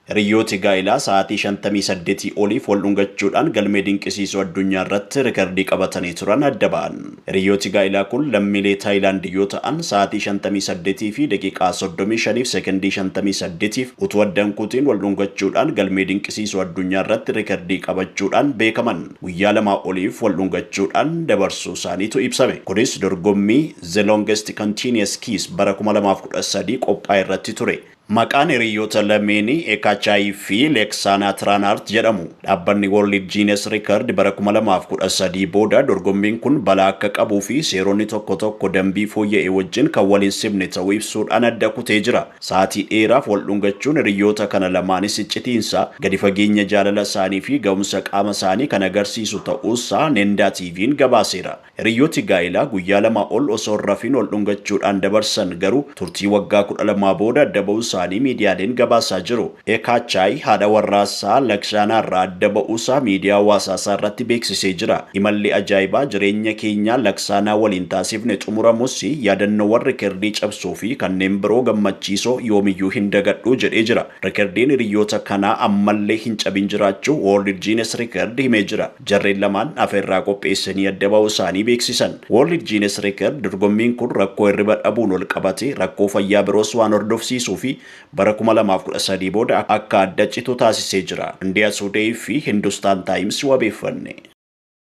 Hiriyyooti gaa'ilaa sa'aatii 58 oliif wal dhungachuudhaan galmee dinqisiisoo addunyaa irratti rikardii qabatanii turan adda ba'an. Hiriyyooti gaa'ilaa kun lammiilee Taayilaand yoo ta'an, sa'aatii 58 fi daqiiqaa 35 fi sekondii 58f utuu adda hin kutiin wal dhungachuudhaan galmee dinqisiisoo addunyaa irratti rikardii qabachuudhaan beekaman. Guyyaa lamaa oliif wal dhungachuudhaan dabarsuu isaaniitu ibsame. Kunis dorgommii The Longest Continuous Kiss bara 2013 qophaa'e irratti ture. Maqaan hiriyyoota lameenii Ekachai fi Leksana Tranart jedhamu. Dhaabbanni World Guinness Record bara kuma lamaa fi kudha sadii booda dorgommiin kun balaa akka qabuu fi seeronni tokko tokko dambii fooyya'e wajjin kan wal hin simne ta'uu ibsuudhaan adda kutee jira. Sa'aatii dheeraaf wal dhungachuun hiriyyoota kana lamaanis iccitiinsa, gadi fageenya jaalala isaanii fi ga'umsa qaama isaanii kan agarsiisu ta'uusaa Nenda TV'n gabaaseera. Hiriyooti gaa'ilaa guyyaa lama ol osoo hin rafiin wal dhungachuudhaan dabarsan garuu turtii waggaa 12 booda adda ba'uu isaanii miidiyaaleen gabaasaa jiru. Eekaachaay haadha warraasaa Lakshaanaarraa adda ba'uusaa miidiyaa hawaasaasaarratti beeksisee jira. Imalli ajaa'ibaa jireenya keenyaa Laksaanaa waliin taasifne xumuramus yaadannoowwan rikerdii cabsuufi kanneen biroo gammachiisoo yoomiyyuu hin dagadhu, jedhee jira. Rikerdiin hiriyoota kanaa ammallee hin cabin jiraachuu World Guinness Record himee jira. Jarreen lamaan afeerraa qopheessanii adda ba'uu isaanii beeksisan. World Guinness Record dorgommiin kun rakkoo hirriba dhabuun walqabatee rakkoo fayyaa biroos waan hordofsiisuu fi bara kuma lamaa fi kudha sadii booda akka adda citu taasisee jira. India Today fi Hindustan Times wabeeffanne.